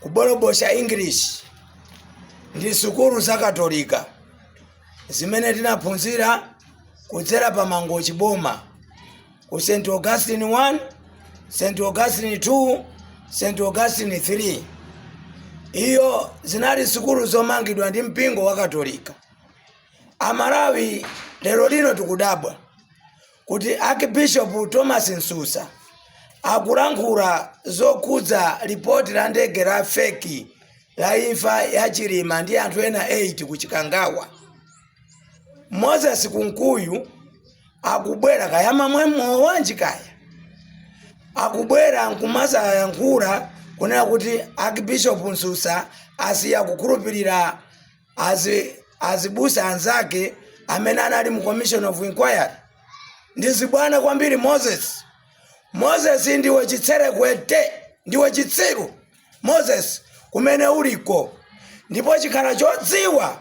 kubolobosha English ndi sukulu za Katolika zimene tinaphunzira kudzera pa Mangochi Boma ku St. Augustine 1, St. Augustine 2, St. Augustine 3. Izo zinali sukulu zomangidwa ndi mpingo wa Katolika. Amalawi lero lino tikudabwa kuti Archbishop Thomas Msusa akulankhula zokhudza lipoti la ndege la feki la imfa ya Chilima ndi anthu ena 8 ku Chikangawa. Moses Kunkuyu akubwera kaya mamwa mowa wanji kaya akubwera nkumazayankhula kunena kuti Archbishop Msusa asiya kukhulupirira azibusa anzake amene anali mu commission of inquiry ndi zibwana kwambiri moses moses ndiwe chitserekwete ndiwe chitsiru moses kumene uliko ndipo ukhala chodziwa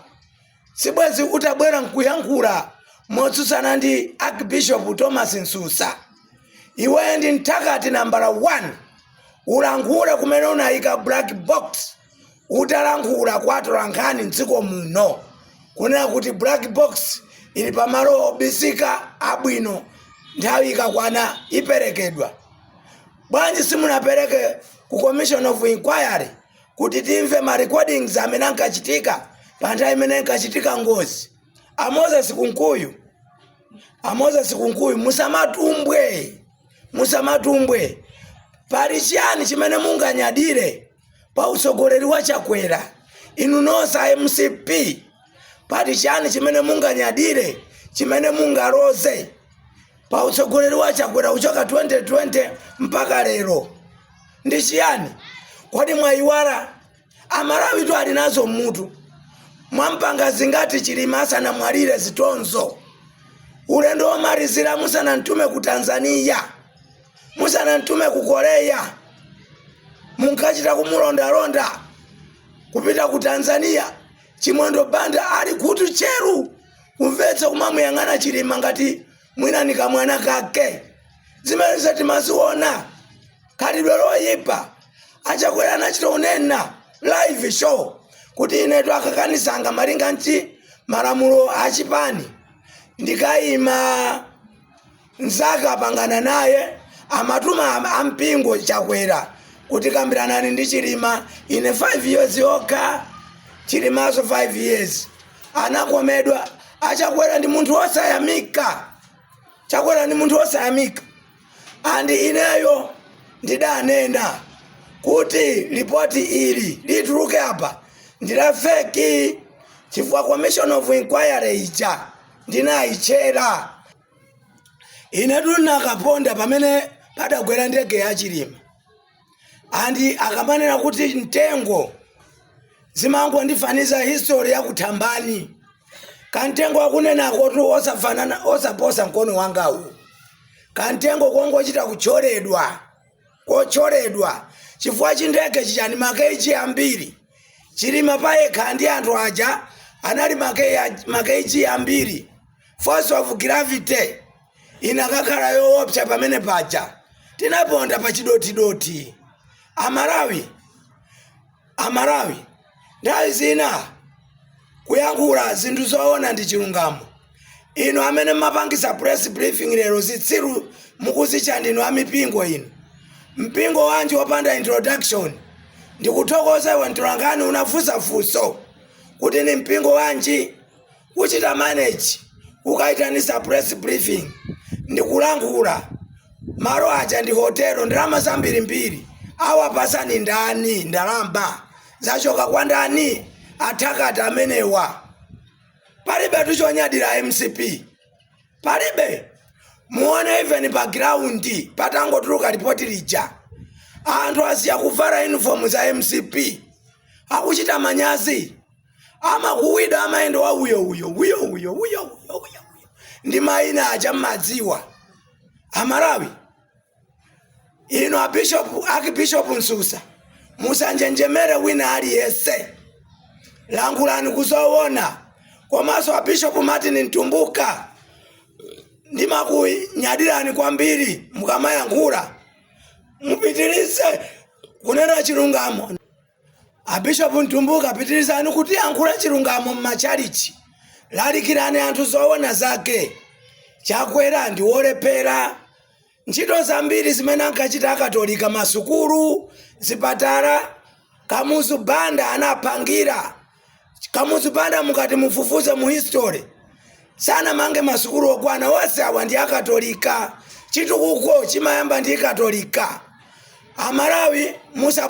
sibwezi utabwera nkuyankhula motsutsana ndi archbishop thomas msusa iwe ndi mthakati nambala 1 ulankhule kumene unayika black box utalankhula kwa atolankhani mdziko muno kunena kuti black box ili pamalo obisika abwino nthawi ikakwana iperekedwa bwanji simunapereke ku commission of inquiry kuti timve ma recordings amene ankachitika pa nthawi imene inkachitika ngozi a moses kunkuyu a moses kunkuyu musamatumbwe musamatumbwe pali chiyani chimene munganyadire pa utsogoleri wa chakwera inu nonse a mcp pali chiyani chimene munganyadire chimene mungaloze pa utsogoleri wa chakwera kuchoka 2020 mpaka lero ndi chiyani kodi mwayiwala amalawitu ali nazo mmutu mwampanga zingati chilima asanamwalire zitonzo ulendo womalizira musanamtume ku tanzania musanamtume ku korea munkachita kumulondalonda kupita ku tanzania chimwendo banda ali khutu tcheru kumvetsera kumamuyang'ana chilima ngati mwina ndi kamwana kake zimenezo timaziona khalidwe loyipa achakwera anachita kunena live show kuti inetu akandisankha malinga ndi malamulo achipani ndikayima Mzake anapangana naye amatuma am- ampingo chakwera kuti kambiranani ndi chilima ine 5 years yokha chilimanso 5 years anakomedwa achakwera ndi munthu wosayamika chakwera ndi munthu wosayamika and ineyo ndidanena kuti lipoti ili lituluke apa ndilafeki chifukwa commission of inquiry ija ndinayitchera inetu ndinakaponda pamene padagwera ndege ya chilima andi akamanena kuti mtengo zimangondifaniza history ya kuthambani kamtengo akunenakotu osafanana osaposa mkono wangawu kamtengo kongochita kutcholedwa kotcholedwa chifukwa chi ndege chija ndi ma Kg ambiri, Chilima payekha ndi anthu aja anali ma Kg ambiri, force of gravity inakakhala yoopsa pamene paja, tinaponda pa chidothi-dothi. Amalawi! Amalawi nthawi zina kuyankhula zinthu zoona ndi chilungamo. Inu amene mmapangisa press briefing lero zitsiru mukuzitcha ndinu amipingo inu. Mpingo wanji opanda introduction? Ndikuthokoza iwe mtolankhani unafunsa funso kuti ndi mpingo wanji? kuchita manage kukaitanisa press briefing ndikulankhula malo aja ndi hotelo ndalama zambirimbiri wakupatsani ndani ndalama zachoka kwa ndani atakati amenewa palibe tu chonyadira mcp palibe muone even pa ground patangotuluka lipoti lija anthu asiya kuvala uniform za mcp akuchita manyazi amakuwizidwa amayenda wa uyo uyo uyo uyo uyo uyo uyo ndi mayina aja mmadziwa amalawi inu abishopu akibishopu msusa musanjenjemere wina aliyese lankhulani kuzowona komanso abishopu martin mtumbuka ndimakunyadirani kwambiri mukamayankhula mupitirize kunena chilungamo Abishopu Mtumbuka pitirizani kutiyankhula chilungamo mmachalichi lalikirani anthu zoona zake chakwera ndi wolephera ntchito zambiri zimene ankachita akatolika masukulu zipatala kamuzu banda anapangira kamuzu banda mukati mufufuze mu history sanamange masukulu okwana onse awa ndi akatolika chitukuko chimayamba ndi katolika amalawi musa